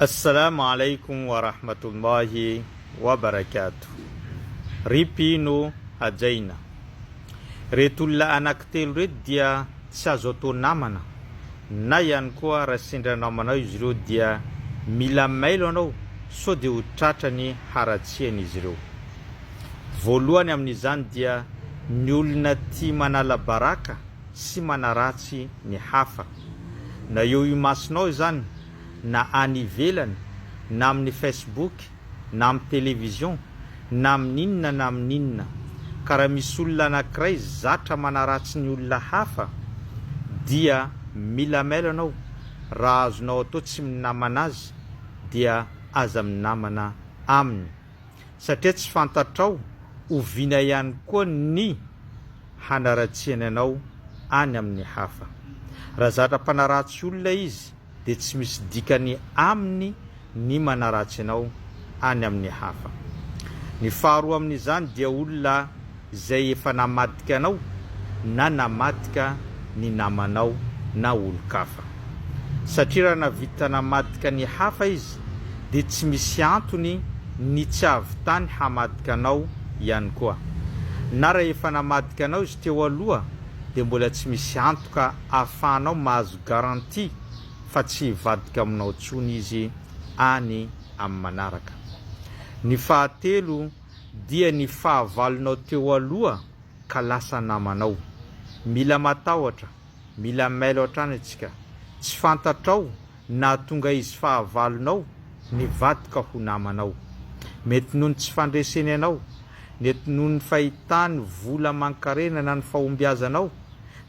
Assalamu alaikum wa rahmatullahi wa barakatuh Ry mpino hajaina, reto olona anakitelo reto dia tsy azo atao namana na ihany koa raha sendra namanao izy ireo dia mila mailo anao sao dia ho tratra ny haratsian izy ireo. Voalohany amin izany dia ny olona tia manala baraka sy manaratsy ny hafa. Na eo imasonao izany na any ivelany, na amin'ny Facebook, na amin'ny television, na amin'inona na amin'inona, ka raha misy olona anankiray zatra manaratsy ny olona hafa, dia mila mail anao, raha azonao atao tsy minamana azy, dia aza minamana aminy, satria tsy fantatrao oviana ihany koa ny hanaratsiany anao any amin'ny hafa. Raha zatra mpanaratsy olona izy, dia tsy misy dikany aminy ny manaratsy anao any amin'ny hafa. Ny faharoa amin'izany dia olona izay efa namadika anao na namadika ny namanao na olon-kafa. Satria raha nahavita namadika ny hafa izy dia tsy misy antony ny tsy hahavitany hamadika anao ihany koa. Na raha efa namadika anao izy teo aloha dia mbola tsy misy antoka ahafahanao mahazo garantie fa tsy hivadika aminao intsony izy any amin'ny manaraka. Ny fahatelo dia ny fahavalonao teo aloha ka lasa namanao. Mila matahotra, mila mailo hatrany antsika. Tsy fantatrao Nahatonga izy fahavalonao nivadika ho namanao. Mety noho ny tsy fandreseny anao, nety noho ny fahitany vola aman-karena na ny fahombiazanao,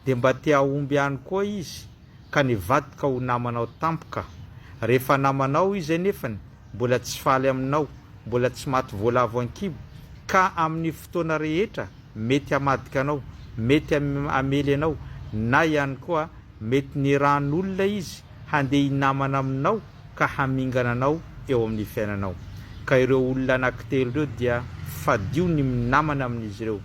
dia mba te hahomby ihany koa izy ka nivadika ho namanao tampoka. Rehefa namanao izy anefany, mbola tsy faly aminao, mbola tsy maty voalavo an-kibo, ka amin'ny fotoana rehetra mety hamadika anao, mety hamely anao, na ihany koa mety nirahan'olona izy handeha hinamana aminao ka hamingana anao eo amin'ny fiainanao. Ka ireo olona anankitelo ireo dia fadio ny minamana amin'izy ireo,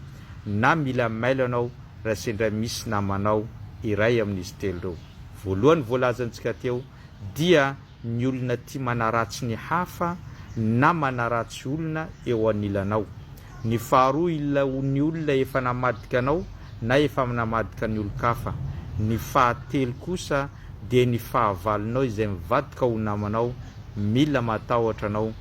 na mila mailo anao raha sendra misy namanao iray amin'izy telo ireo voalohany voalazantsika teo dia Ny olona tia manaratsy ny hafa na manaratsy olona eo anilanao. Ny faharoa il ny olona efa namadika anao na efa mnamadika ny olon-kafa. Ny fahatelo kosa dia ny fahavalonao izay mivadika ho namanao, mila matahotra anao.